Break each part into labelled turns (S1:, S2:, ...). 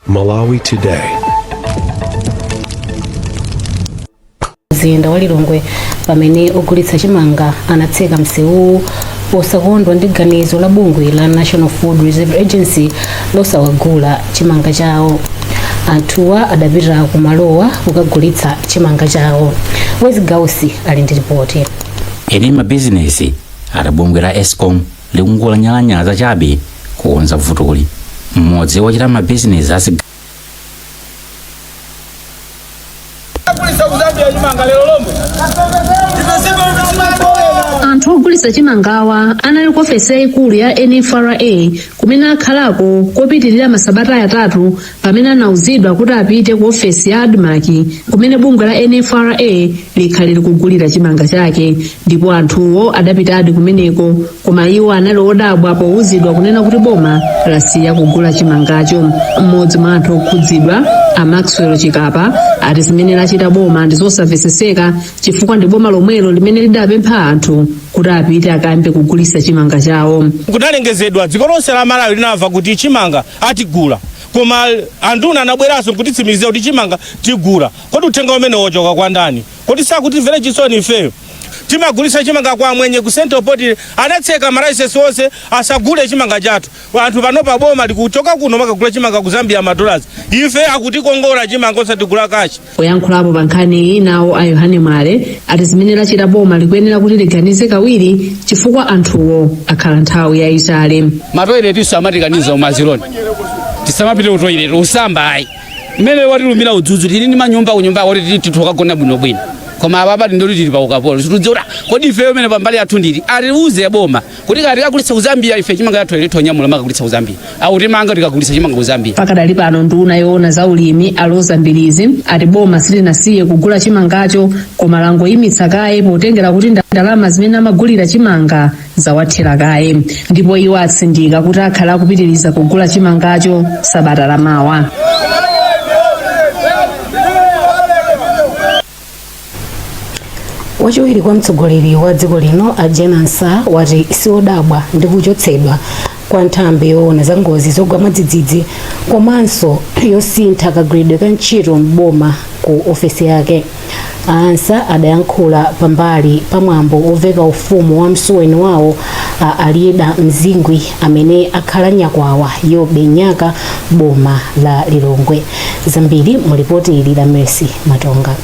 S1: Malawi
S2: Today. mzinda wa lilongwe pamene ogulitsa chimanga anatseka msewuwu posakondwa ndi ganizo la bungwe la national food reserve agency losawagula chimanga chawo anthuwa adapita ku malowa kukagulitsa chimanga chawo wezzie gausi ali ndi ripoti eni
S3: mabizinesi ati bungwe la escom likungonyalanyaza chabe kukonza vutoli mmodzi wochita mabizinesi asi kulisa ku zambia chimanga
S4: lero lomwe ipesema mtumatoena anthu ogulitsa chimangawa anali ku ofesi yayikulu ya nfra kumene akhalako kopitirira masabata atatu Pamene anauzidwa kuti apite ku ofesi ya Admarc kumene bungwe la NFRA likhale likugulira chimanga chake ndipo anthuwo adapitadi kumeneko koma iwo anali odabwa pouzidwa kunena kuti boma lasiya kugula chimangacho. Mmodzi mwa anthu okhudzidwa a Maxwell Chikapa ati zimene lachita boma ndi zosamveseseka chifukwa ndi boma lomwelo limene lidapempha anthu kuti apite akayambe kugulitsa chimanga chawo. Kudalengezedwa dziko
S5: lonse la Malawi linamva kuti chimanga atigula koma anduna anabweranso nkutitsimikizira kuti chimanga tigula kodi uthenga umenewu wochoka kwa ndani kodi sakutimvera chisoni ifeyo timagulisa chimanga kwa amwenye ku central poultry anatseka malaisesi onse asagule chimanga chathu anthu panopa boma likuchoka kuno makagula chimanga ku zambia madollars ife akutikongola chimanga osatigula cash Poyankhulapo pa
S4: nkhaniyi, nawo a Yohane Mwale ati zimene lachita boma likuyenera kuti liganize kawiri chifukwa anthuwo akhala nthawi yayitali. matoiletinso
S6: amatikaniza umaziloni tisamapite ku toilet kusamba ayi mmene watilumira udzudzu tili ndi manyumba kunyumba kuti titha kukagona bwinobwino koma apapa tingoti tili pa ukapolo situdziwa kuti kodi ifeyo mene pambali yathu ndili atiuze boma kuti kaya tikagulitsa ku zambia ife chimanga yathu lero tonyamula makagulitsa ku zambia awo timanga tikagulitsa chimanga ku zambia pakadali pano nduna yoona za ulimi a roza mbilizi ati boma silinasiye kugula chimangacho koma langoyimitsa kaye potengera kuti nda- ndalama zimene amagulira chimanga zawathera kaye ndipo iwo atsindika kuti akhala akupitiriza kugula chimangacho sabata lamawa
S2: wachiwiri kwa mtsogoleri wa dziko lino a Jane Ansah wati siodabwa ndi kuchotsedwa kwa nthambi yoona za ngozi zogwa mwadzidzidzi komanso yosintha kagwiridwe ka ntchito m'boma ku ofesi yake a Ansah adayankhula pambali pa mwambo woveka ufumu wa msuweni wawo a Aliyeda Mzingwi amene akhala nyakwawa Yobe Nyaka boma la Lilongwe zambiri mu lipoti ili la mercy matonga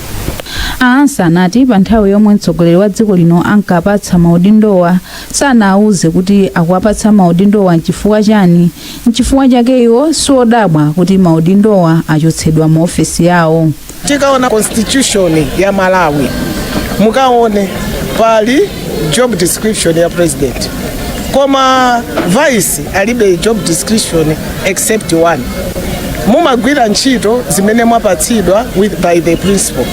S2: a
S7: ansa anati pa nthawi yomwe mtsogoleri wa dziko lino ankapatsa maudindowa sanawauze kuti akuwapatsa maudindowa nchifukwa chani nchifukwa chake iwo siodabwa kuti maudindowa achotsedwa mu ofesi yawo tikaona
S8: constitution ya malawi mukaone pali job description ya president koma vice alibe job description except one mumagwira ntchito zimene mwapatsidwa by the principal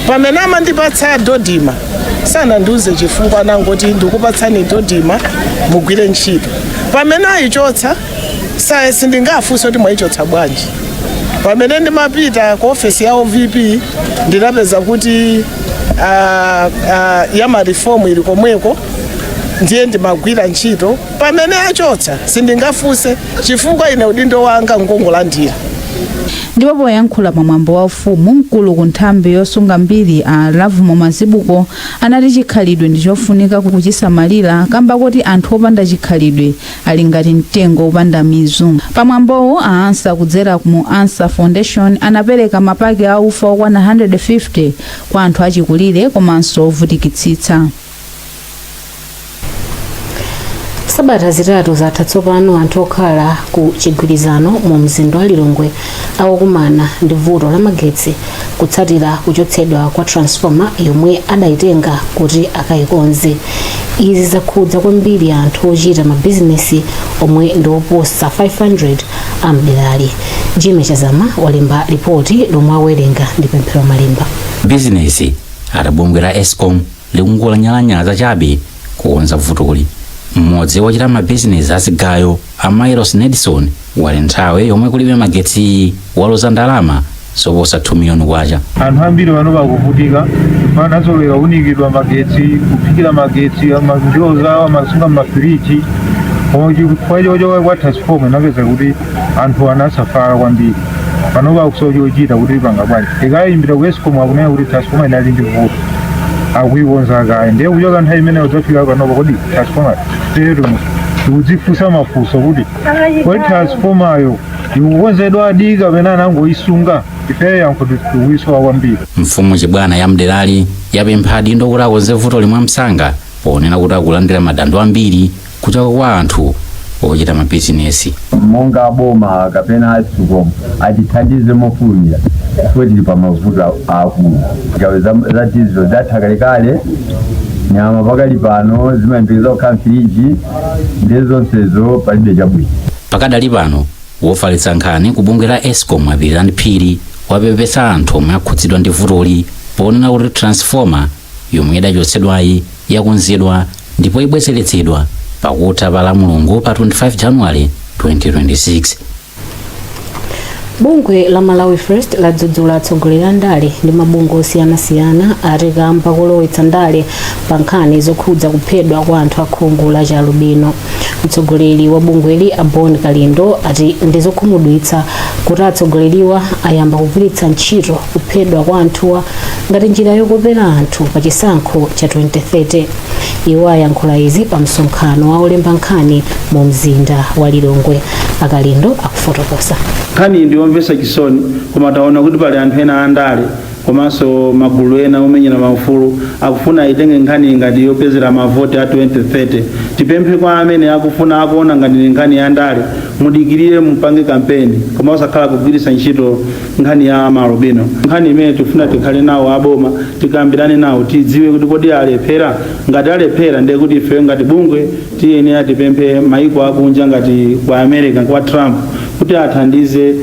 S8: pamene amandipatsa dodima sanandiuze chifukwa anangoti ndikupatsani dodima mugwire ntchito pamene ayichotsa saye sindingafunse kuti mwayichotsa bwanji pamene ndimapita ku ofesi ya ovp ndinapeza kuti ah, ah, ya marifomu ili komweko ndiye ndimagwira ntchito pamene achotsa sindingafunse chifukwa ine udindo wanga ngongolandira
S7: ndipo poyankhula pa mwambo wa ufumu mkulu ku nthambi yosunga mbiri a lavumo mazibuko anati chikhalidwe ndi chofunika kuchisamalira kamba kakuti anthu opanda chikhalidwe ali ngati mtengo wopanda mizu pamwambowu a ansa kudzera mu ansa foundation anapereka mapaki a ufa okwana 150 kwa anthu achikulire komanso
S2: ovutikitsitsa sabata zitatu zatha tsopano anthu okhala ku chigwirizano mu mzinda wa lilongwe akukumana ndi vuto la magetsi kutsatira kuchotsedwa kwa transformer yomwe adayitenga kuti akayikonze izi zakhudza kwambiri anthu ochita mabizinesi omwe ndi oposa 500 a mderali jimmy chazama walemba lipoti lomwe awerenga ndi pemphero malemba abizinesi
S3: ati bungwe la escom likungolanyalanyaza chabe kukonza vutoli mmodzi wochita mabizinesi azigayo A Myles Nedson wati nthawi yomwe kulibe magetsiyi waluza ndalama zoposa K2 miliyoni. Anthu ambiri
S9: pano akuvutika chifukwa anazolowera kuunikidwa magetsi, kuphikira magetsi, ama- ndiwo zawo amasunga m'mafiriji. Koma chifukwa chochoka kwa transformer inapeza kuti anthu anasafala kwambiri. Pano pakusowa chochita kuti apanga bwanji. Tikayimbira ku Escom akunena kuti transformer inali ndi vuto. Akuikonza kaye. Ndiye kuchoka nthawi imeneyo kudzafika panopa kodi transformer tero tikudzifunsa mafunso kuti kodi transfomayo ikukonzedwadi kapena anangoyisunga ifeyo yankho tikuyisowa kwambiri mfumu chibwana
S3: ya mderali yapempha adindo kuti akonze vutoli mwamsanga ponena kuti akulandira madando ambiri kuchoka kwa anthu ochita mabizinesi monga
S1: aboma kapena aescom atithandize mofulumira chifukwa tili pa mavuto a- aakulu ngawa ma freezes zatha kalekale nyama pakali pano zimayembekeza kukhala mfiriji ndi zonsezo palibe chabwino pakadali
S3: pano wofalitsa nkhani ku bungwe la escom a pilirani phiri wapepesa anthu omwe akhudzidwa ndi vutoli ponena kuti transformer yomwe idachotsedwayi yakonzedwa ndipo ibwezeretsedwa pakutha pa la mulungu pa 25 januwale 2026
S2: bungwe la malawi first ladzudzula atsogoleri a ndale ndi mabungwe osiyanasiyana ati kamba kolowetsa ndale pa nkhani zokhudza kuphedwa kwa anthu akhungu la chalubino mtsogoleri wa bungweli a bon kalindo ati ndi zokhumudwitsa kuti atsogoleriwa ayamba kugwiritsa ntchito kuphedwa kwa anthuwa ngati njira yokopera anthu pa chisankho cha 2030 iwo ayankhula izi pa msonkhano wa olemba nkhani mu mzinda wa lilongwe akalindo akufotokoza nkhaniyi ndi yomvetsa
S10: chisoni koma taona kuti pali anthu ena andale komanso magulu ena omenyera maufulu akufuna aitenge nkhaniyi ngati yopezera mavoti a 2030 tipemphe kwa amene akufuna akuona ngati ndi nkhani ya ndale mudikirire mupange kampeni koma osakhala kugwiritsa ntchito nkhani ya maalubino nkhani imene tifuna tikhale nawo aboma tikambirane nawo tidziwe kuti kodi alephera ngati alephera ndiye kuti ifeyo ngati bungwe tiyenera tipemphe maiko akunja ngati kwa america kwa trump kuti athandize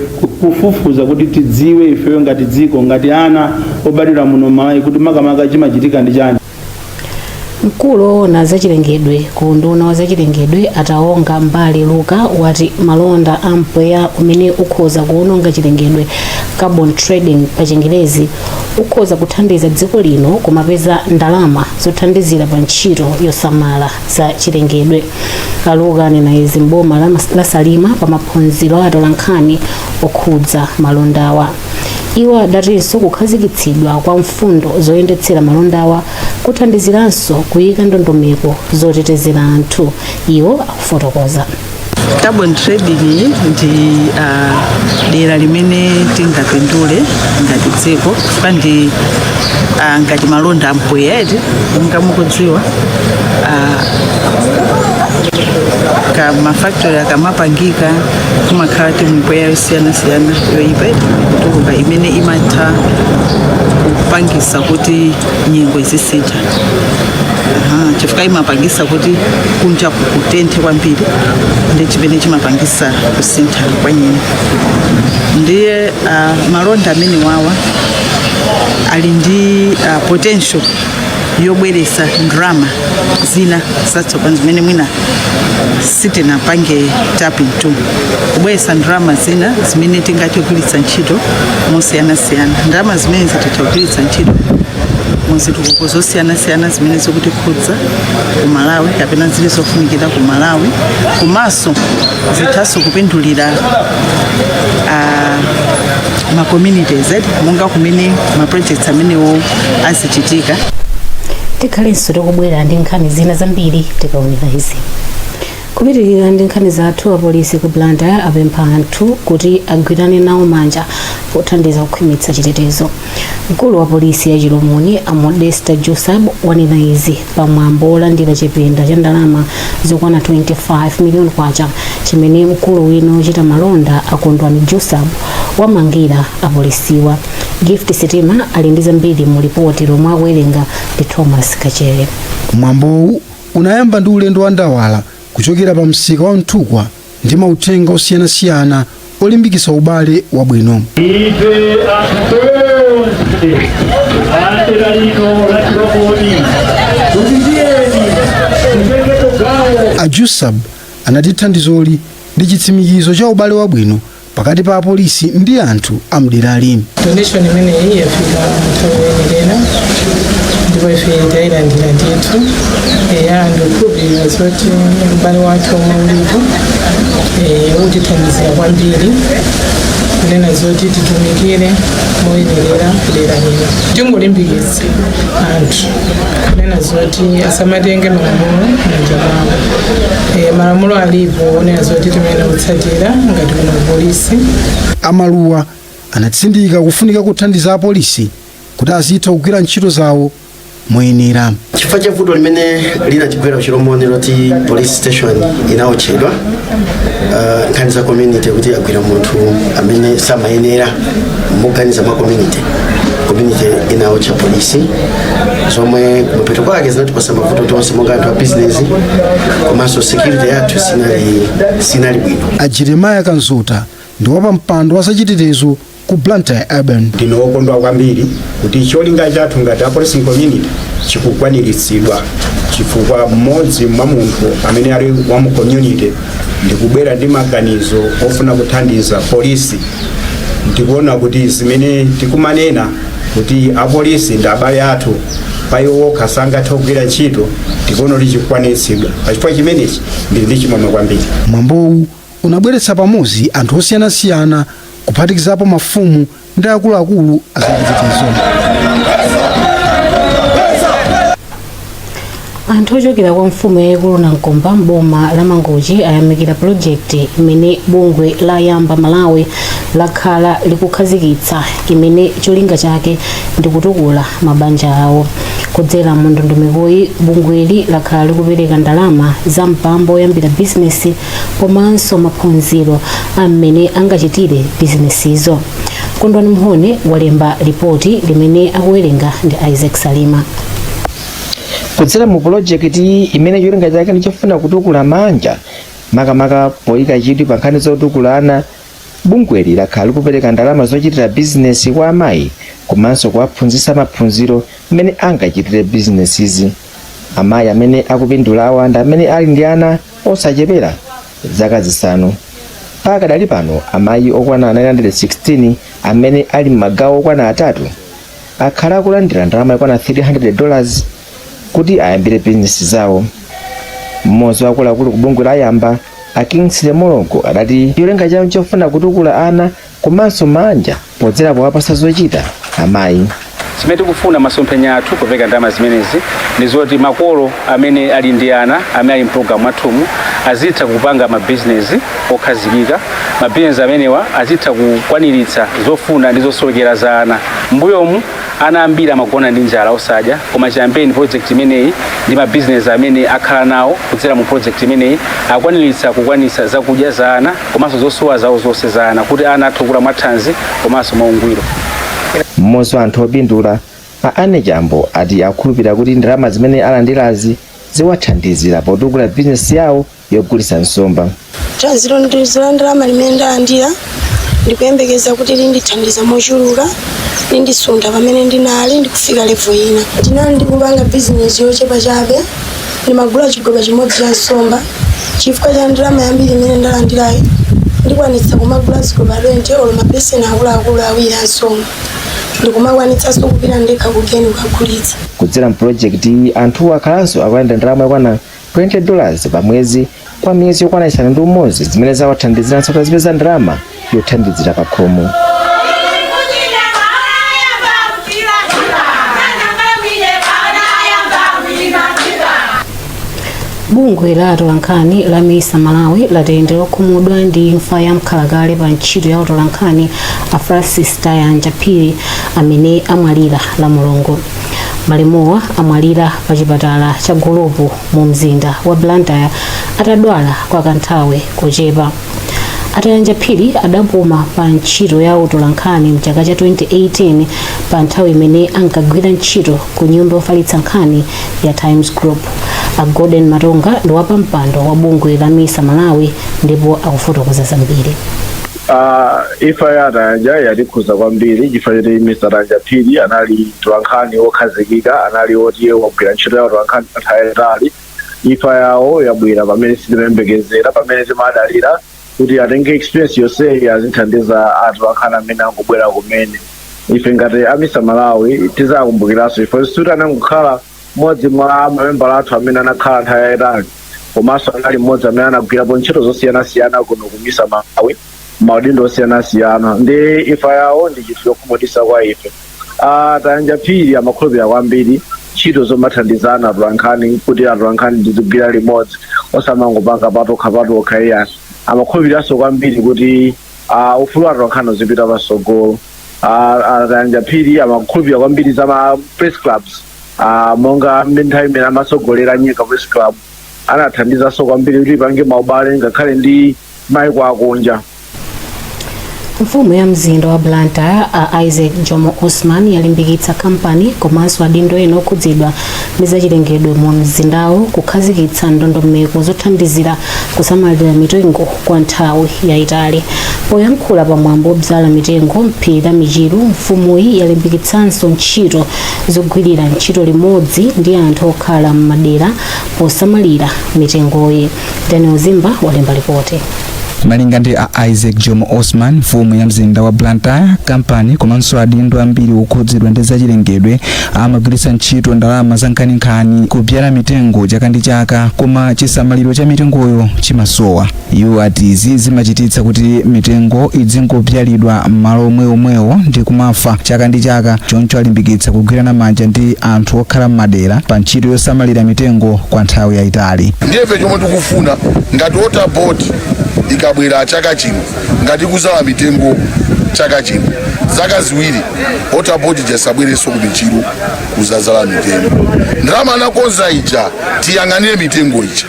S10: kufufuza kuti tidziwe ifeyo ngati dziko ngati ana obadwira muno mmalawi kuti makamaka chimachitika ndi chani
S2: mkulu woona zachilengedwe ku unduna wa zachilengedwe a tawonga mbale luka wati malonda a mpweya umene ukhoza kuononga chilengedwe carbon trading pa chingerezi ukhoza kuthandiza dziko lino kumapeza ndalama zothandizira pa ntchito yosamala za chilengedwe a luka anena izi mboma la salima pa maphunziro a atolankhani okhudza malondawa iwo adatinso kukhazikitsidwa kwa mfundo zoyendetsera malondawa kuthandiziranso kuyika ndondomeko zotetezera anthu iwo akufotokoza carbon
S11: trading ndi ah, dera limene tingapindule ngati dziko chifukwa ndi ah, ngati malonda ampweya eti monga mukudziwa ah, ka mafactory akamapangika kumakhala kuti mipweya yosiyanasiyana yoyipa ikutuluka imene imatha kupangisa kuti nyengo izisintha chifukwa imapangisa kuti kunja kutenthe kwambiri ndi chimene chimapangisa kusintha kwa nyengo ndiye ah, malonda amenewawa ali ndi ah, potential yobweretsa ndalama zina zatsopano zimene mwina sitinapange tapping to kubweretsa ndalama zina zimene tingathe kugwiritsa ntchito mosiyanasiyana ndalama zimene zitathe kugwiritsa ntchito muzitukuko zosiyanasiyana zimene zikutikhudza ku malawi kapena zili zofunikira ku malawi komanso zithanso kupindulira ah, ma communities eti monga kumene ma projects amenewo
S2: azichitika tikhalenso tikubwera ndi nkhani zina zambiri tikaonera izi kupitirira ndi nkhani zathu apolisi ku blantyre apempha anthu kuti agwirane nawo manja pothandiza kukhwimitsa chitetezo mkulu wa polisi ya chilomoni a modesta jusab wanena izi pa mwambo wolandira chipinda cha ndalama zokwana 25 miliyoni kwacha chimene mkulu wina wochita malonda a kondwani jusab wamangira apolisiwa gift sitima ali ndi zambiri mu lipoti lomwe akuwerenga ndi thomas kachere mwambowu
S12: unayamba ndi ulendo wa ndawala kuchokera pa msika wa mthukwa ndi mauthenga osiyanasiyana olimbikitsa ubale wabwino. Ife anthu tonse a dera lino la Chilomoni kuti tiyeni titengepo gawo A Jusab anati thandizoli ndi chitsimikizo cha ubale wabwino pakati pa apolisi ndi anthu a mderali donation
S13: imeneyi yafika nthawi yoyenera ndipo ife tailandira ndithu eya ndikukhulupirira zoti ubale wathu omwe ulipo eh, utithandizira kwambiri kunena zoti titumikire moyenerera kudera lino tingolimbikitsa anthu kunena zoti asamatenge malamulo m'manja mwawo e, malamulo alipo onena zoti timayenera kutsatira ngati kuno polisi a
S12: maluwa anatsindika kufunika kothandiza apolisi kuti azitha kugwira ntchito zawo moyenera chifukwa cha
S14: vuto limene linatigwera kuchilomoni loti police station inaotchedwa uh, nkhani za community kuti agwira munthu amene samayenera moganiza mwa community community inaotcha polisi zomwe kumapeto kwake zinatipasa mavuto tonse monga anthu a business komanso security yathu sinali bwino a jeremiah
S12: kanzuta ndi wapampando wa zachitetezo ku blantyre urban ndine wokondwa
S15: kwambiri kuti cholinga chathu ngati a community chikukwaniritsidwa chifukwa mmodzi mwa munthu amene ali wa mu community ndikubwera ndi maganizo ofuna kuthandiza polisi ndikuona kuti zimene tikumanena kuti apolisi ndi abale athu pa iwo okha sangathe kugwira ntchito tikuona kuti chikukwaniritsidwa pachifukwa chimenechi ndili ndi chimwemwe kwambiri mwambowu
S12: unabweretsa pamodzi anthu osiyanasiyana kuphatikizapo mafumu ndi akuluakulu
S2: azachitetezo anthu ochokera kwa mfumu yayikulu nankomba mboma la mangochi ayamikira pulojekiti imene bungwe la yamba malawi lakhala likukhazikitsa imene cholinga chake ndi kutukula mabanja awo kudzera mu ndondomekoyi bungweli lakhala likupereka ndalama za mpamba oyambira bizinesi komanso maphunziro a mmene angachitire bizinesizo kondwani mhone walemba lipoti limene akuwerenga ndi isaac salima
S16: kudzera mu pulojekiti imene cholinga chake ndi chofuna kutukula maanja makamaka poyika chidwi pa nkhani zotukula ana bungweli lakhala likupereka ndalama zochitira bizinesi kwa amayi komanso kuwaphunzitsa maphunziro mmene angachitire bizinesizi amayi amene akupindula awa ndi amene ali ndi ana osachepera zaka zisanu. Pakadali pano, amayi okwana 916 amene ali m'magawo okwana atatu akhala akulandira ndalama yokwana 300 dollars kuti ayambire bizinesi zawo. Mmodzi wa akuluakulu ku bungwe la Yamba, a Kingsley Mlongo adati cholinga chawo chofuna kutukula ana komanso maanja podzera powapasa zochita amayi. Chimene
S6: tikufuna masomphenya athu popereka ndalama zimenezi ndi zoti makolo amene ali ndi ana amene ali mpulogalamu mwathumu azitha kupanga mabizinesi okhazikika. Mabizinesi amenewa azitha kukwaniritsa zofuna ndi zosowekera za ana. M'mbuyomu ana ambiri amagona ndi njala osadya koma chiyambeni project imeneyi ndi mabizinesi amene akhala nawo kudzera mu project imeneyi akwaniritsa kukwanitsa zakudya za ana. komanso zosowa zawo zonse za ana kuti ana athe kukula mwathanzi komanso mwaungwiro.
S16: Mmodzi wa anthu opindula, a Anne Chambo ati akhulupirira kuti ndalama zimene alandirazi ziwathandizira potukula bizinesi yawo yogulitsa nsomba. Thandizo ndi
S17: la ndalama limene ndalandira ndikuyembekeza kuti lindithandiza mochuluka lindisuntha pamene ndinali ndikufika levo ina ndinali ndikupanga bizinesi yochepa chabe ndimagula chigoba chimodzi cha nsomba chifukwa cha ndalama yambiri imene ndalandirayi ndikwanitsa kumagula zigoba 20 olo mabeseni akuluakulu awiri a nsomba ndikumakwanitsanso kupita ndekha kugeni kukagulitsa kudzera mu
S16: project iyi anthu akhalanso akulandira ndalama yokwana 20 dollars pa mwezi kwa miyezi yokwana isanu ndi umodzi zimene zawathandiziranso kuti azipeza ndalama yothandizira pakhomo
S2: bungwe la atolankhani la misa malawi lati ndi lokhumudwa ndi imfa ya mkhalakale pa ntchito ya utolankhani a francis tayanja phiri amene amwalira la mulungu malemuwa amwalira pa chipatala cha gulupu mu mzinda wa blantyre atadwala kwa kanthawi kochepa a tayanja phiri adapuma pa ntchito ya utolankhani mchaka cha 2018 pa nthawi imene ankagwira ntchito ku nyumba yofalitsa nkhani ya times group a golden matonga ndi wapampando wa bungwe la misa malawi ndipo akufotokoza zambiri
S18: Ah, imfa ya a tayanja yatikhuza kwambiri chifukwa choti mr tayanja phiri anali mtolankhani wokhazikika anali woti wagwira ntchito ya utolankhani nthawi yaitali imfa yawo yabwera pamene sitimayembekezera pamene timadalira kuti atenge experience yonseyi azithandiza atolankhani amene angobwera kumene ife ngati amisa malawi tizakumbukiranso iwo sikuti anangokhala mmodzi mwa mamembala athu amene anakhala nthawi yayitali komanso anali mmodzi amene anagwirapo ntchito zosiyanasiyana kuno kumisa malawi maudindo osiyanasiyana ndiye imfa yawo ndi chinthu chokhumudwitsa kwa ife Ah, tayanja phiri amakhulupirira kwambiri ntchito zomathandizana atolankhani kuti atolankhani tizigwira limodzi osamangopanga patokha patokha iya amakhulupiriranso kwambiri kuti ah, ufulu wa atolankhani uzipita patsogolo Ah, ah, tayanja phiri amakhulupirira kwambiri za ma press clubs Ah, monga nthawi imene amatsogolera nyika press club anathandizanso kwambiri kuti ipange maubale ngakhale ndi maiko
S2: akunja mfumu ya mzinda wa blantyre a isaac jomo osman yalimbikitsa kampani komanso adindo ena okhudzidwa ndi zachilengedwe mu mzindawo kukhazikitsa ndondomeko zothandizira kusamalira mitengo kwa nthawi yayitali poyankhula pa mwambo wodzala mitengo m'phiri la michiru mfumuyi yalimbikitsanso ntchito zogwirira ntchito limodzi ndi anthu okhala m'madera posamalira mitengoyi daniel zimba walemba lipoti
S19: malinga ndi a isaac jomo osman mfumu ya mzinda wa blantyre kampani komanso adindo ambiri okhudzidwa ndi zachilengedwe amagwiritsa ntchito ndalama zankhaninkhani kubyala mitengo chaka ndi chaka koma chisamaliro cha mitengoyo chimasowa iwo ati izi zimachititsa kuti mitengo idzingobyalidwa m'malo omweomwewo ndi kumafa chaka ndi chaka choncho alimbikitsa kugwirana manja ndi anthu okhala m'madera pa ntchito yosamalira mitengo kwa nthawi yayitali ndiye ife chomwe
S20: tikufuna ngati water board ikabwera chaka chino ngati ikuzala mitengo chaka chino zaka ziwiri water board ija isabwerenso ku michiru kuzazala mitengo ndalama anakonza ija tiyang'anire mitengo ija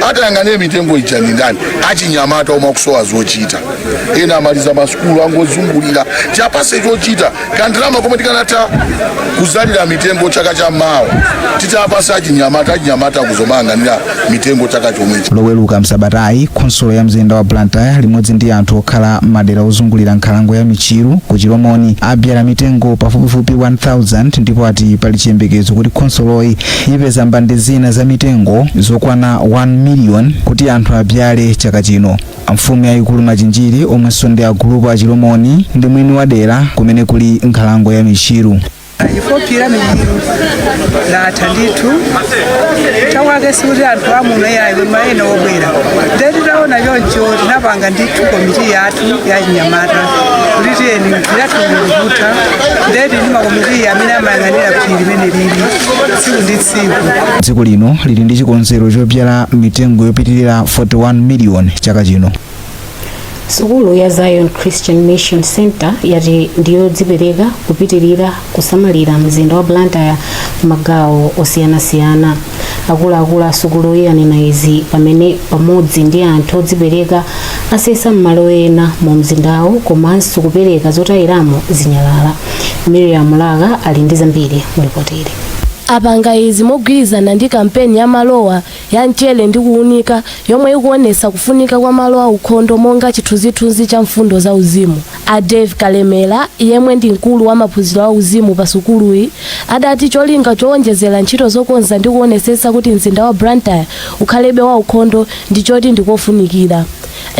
S20: atayang'anire mitengo ija ni ndani achinyamata omwe akusowa zochita ena amaliza masukulu angozungulira tiapatse chochita kandalama komwe tikanatha kuzalira mitengo chaka cha mawa titapatsa achinyamata achinyamata kuzamayang'anira mitengo chaka chomwechi loweruka msabatayi
S19: khonsolo ya mzinda wa blantyre limodzi ndi anthu okhala m'madera ozungulira nkhalango ya michiru ku chilomoni abyala mitengo pafupifupi 1000 ndipo ati pali chiyembekezo kuti khonsoloyi ipeza mbande zina za mitengo zokwana 1 million kuti anthu abyale chaka chino Mfumu yayikulu Machinjiri omwenso ndi agulupu a Chilomoni ndi mwini wa dera kumene kuli nkhalango ya Michiru.
S21: A phiri la Michiru latha ndithu chake sikuti anthu amuno yayi koma ena obwera nde titaona choncho tinapanga ndithu komiti yathu ya chinyamata kuti tiyeni phiri lathu likutha nde tili ndi makomiti amene amayang'anira phiri limene lili tsiku ndi tsiku tsiku dziko
S19: lino lili ndi chikonzero chobyala mitengo yopitirira 41 miliyoni chaka
S2: chino sukulu ya zion christian mission center yati ndiyodzipereka kupitirira kusamalira mzinda wa blantyre magawo osiyanasiyana akuluakulu a sukuluyi anena izi pamene pamodzi ndi anthu odzipereka asesa m'malo ena mu mzindawo komanso kupereka zotayiramo zinyalala miriam laka ali ndi zambiri mu lipotili Apanga izi
S22: mogwirizana ndi kampeni ya malowa ya Mchere ndi Kuunika yomwe ikuonetsa kufunika kwa malo aukhondo monga chithunzithunzi cha mfundo za uzimu. A Dave Kalemera yemwe ndi mkulu wa maphunziro a uzimu pa sukuluyi adati cholinga chowonjezera ntchito zokonza ndi kuonetsetsa kuti mzinda wa Blantyre ukhalebe waukhondo ndi choti ndi kofunikira.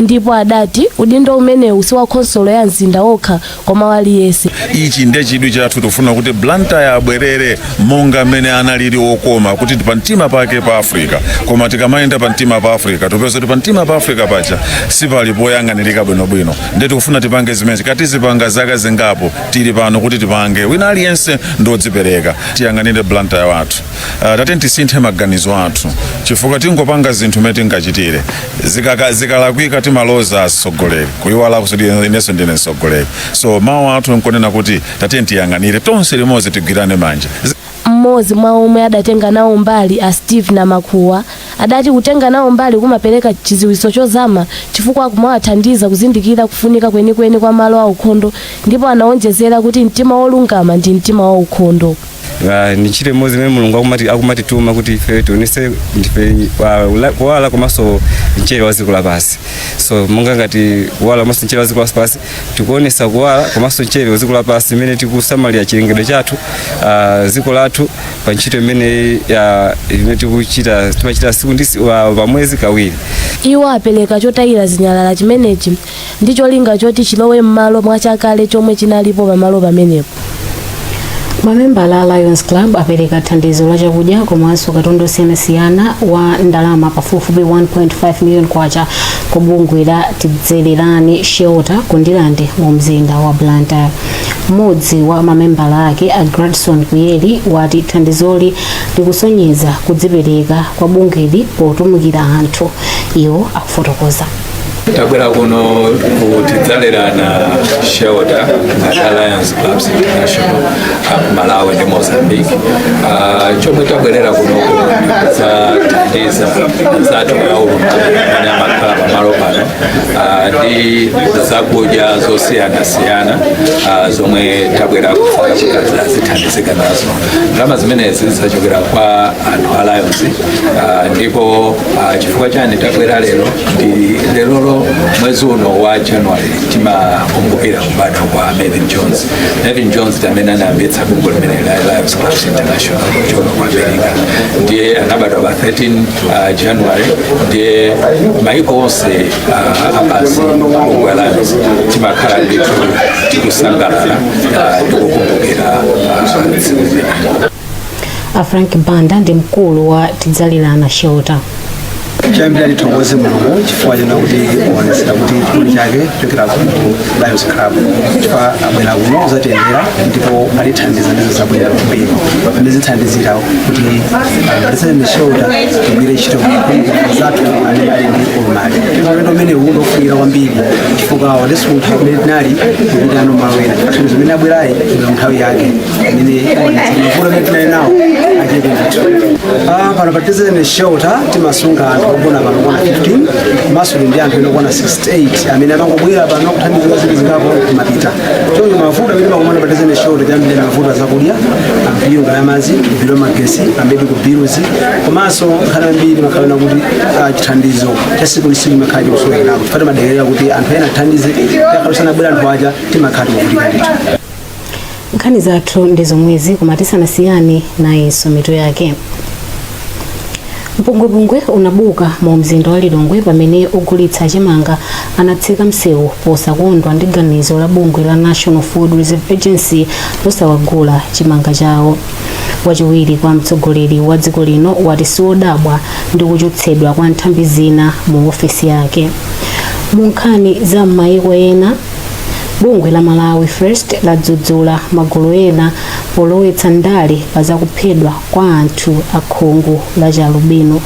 S22: ndipo adati udindo umenewu si wa khonsolo ya mzinda wokha koma wa aliyense. ichi nde
S23: chidwi chathu tofuna kuti blantyre abwerere monga mmene analili okoma kuti pamtima pake pa africa koma tikamayenda pamtima pa africa topeza kuti pamtima pa africa paja sipali poyang'anirika bwinobwino nde tikufuna tipange zimene tikazipanga zaka zingapo tili pano kuti tipange wina aliyense ndi odzipereka tiyang'anire blantyre wathu tateni tisinthe maganizo athu chifukwa tingopanga zinthu mmene tingachitire zikalakwika timaloza atsogoleri kuiwala kuti inenso ndine mtsogoleri so mawu athu nkunena kuti tateni tiyang'anire tonse limodzi tigwirane manja mmodzi
S22: mwa omwe adatenga nawo mbali a steve namakuwa adati kutenga nawo mbali kumapereka chidziwitso chozama chifukwa kumawathandiza kuzindikira kufunika kwenikweni kwa malo aukhondo ndipo anawonjezera kuti mtima wolungama ndi mtima waukhondo Ah, ni
S24: ntchito imodzi imene mulungu akumatituma kuti ife tionese ndife ah, kuwala komanso mchere wa dziko lapansi so monga ngati kuwala komanso mchere wa dziko lapansi tikuonesa kuwala komanso mchere wa dziko lapansi imene tikusamalira chilengedwe chathu ah, dziko lathu pa ntchito imene ah, imene tikuchita timachita siku ndi si- wa- pa mwezi kawiri iwo apereka
S22: chotayira zinyalala chimenechi ndi cholinga choti chilowe m'malo mwa chakale chomwe chinalipo pamalo pamenepo
S2: mamembala a lions club apereka thandizo la chakudya komanso katundu osiyanasiyana wa ndalama pafupifupi 1.5 million kwacha ku bungwe la tidzelerani shelter ku ndirande mu mzinda wa blantyre mmodzi wa mamembala ake a gradson kuyeli wati thandizoli likusonyeza kudzipereka kwa bungweli potumikira anthu iwo akufotokoza
S4: tabwera kuno ku tidzalerana shelter ngati a lions clubs international uh, malawi ndi mozambique uh, chomwe tabwerera kuno nkudzathandiza anzathu aulumali amene amakhala pamalo pano uh, ndi zakudya zosiyanasiyana uh, zomwe tabwera kufuna kuti azithandizike nazo ndalama zimenezi zachokera kwa anthu a lions uh, ndipo Ah, chifukwa chani tabwera lero ndi lerolo mwezi uno wa january timakumbukira kubadwa kwa melvin jones melvin jones ndi amene anayambitsa bungwe limeneli la lions clubs international kuchoka ku america ndiye anabadwa pa 13 ah, january ndiye maiko onse ah, apadziko lapansi bungwe la lions timakhala ndithu tikusangalala ah, ndikukumbukira ah, tsiku limeneli
S2: a frank banda ndi mkulu wa tidzalerana shelter
S5: choyambirira tithokoze mulungu chifukwa chonena kuti waonetsera kuti chikondi chake kuchokera ku lions club chifukwa abwera kuno kuzatiyendera ndipo atithandiza ndizo zabwera kwambiri ndizithandizira kuti pa tidzalerana shelter tigwire ntchito kwa anzathu amene ali ndi ulumali ulendo umene uwu ndofunika kwambiri chifukwa watisuntha kumene tinali kupita malo ena chifukwa zimene abwerayi ndi nthawi yake imene aonetsa mavuto amene tinali nawo achepe ndithu Ah, pano pa tidzalerana shelter timasunga anthu ogona pano okwana 15 komanso ndi anthu ena okwana 68 amene amangobwera pano kuthandizidwa zinthu zingapo nkumapita choncho mavuto amene timakumana pa tidzalerana shelter tiyambire ndi mavuto azakudya ma bill a madzi ma bill a magesi ma medical bills komanso nthawi zambiri imakhala kuti ah, chithandizo cha tsiku ndi tsiku chimakhala chikusowekerapo chifukwa timadikirira kuti anthu ena atithandize akakhala asanabwere anthu aja timakhala tikuvutika ndithu nkhani
S2: zathu ndi zomwezi koma tisanasiyane nayenso mitu yake mpungwepungwe unabuka mu mzinda wa lilongwe pamene ogulitsa chimanga anatseka msewu posakondwa ndi ganizo la bungwe la national food reserve agency losawagula chimanga chawo wachiwiri kwa mtsogoleri wa dziko lino wati siwodabwa ndi kuchotsedwa kwa nthambi zina mu ofesi yake mu nkhani za m'mayiko ena bungwe la malawi first ladzudzula magulu ena polowetsa ndale pa zakuphedwa kwa anthu akhungu la chialubino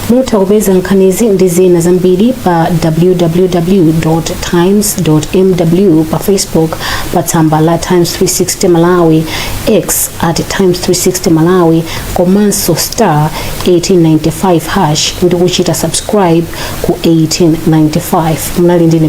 S2: mutha kupeza nkhanizi ndi zina zambiri pa www times mw pa facebook pa tsamba la times 360 malawi x at times 360 malawi komanso star 1895 hash ndi kuchita subscribe ku 1895 munali ndi ine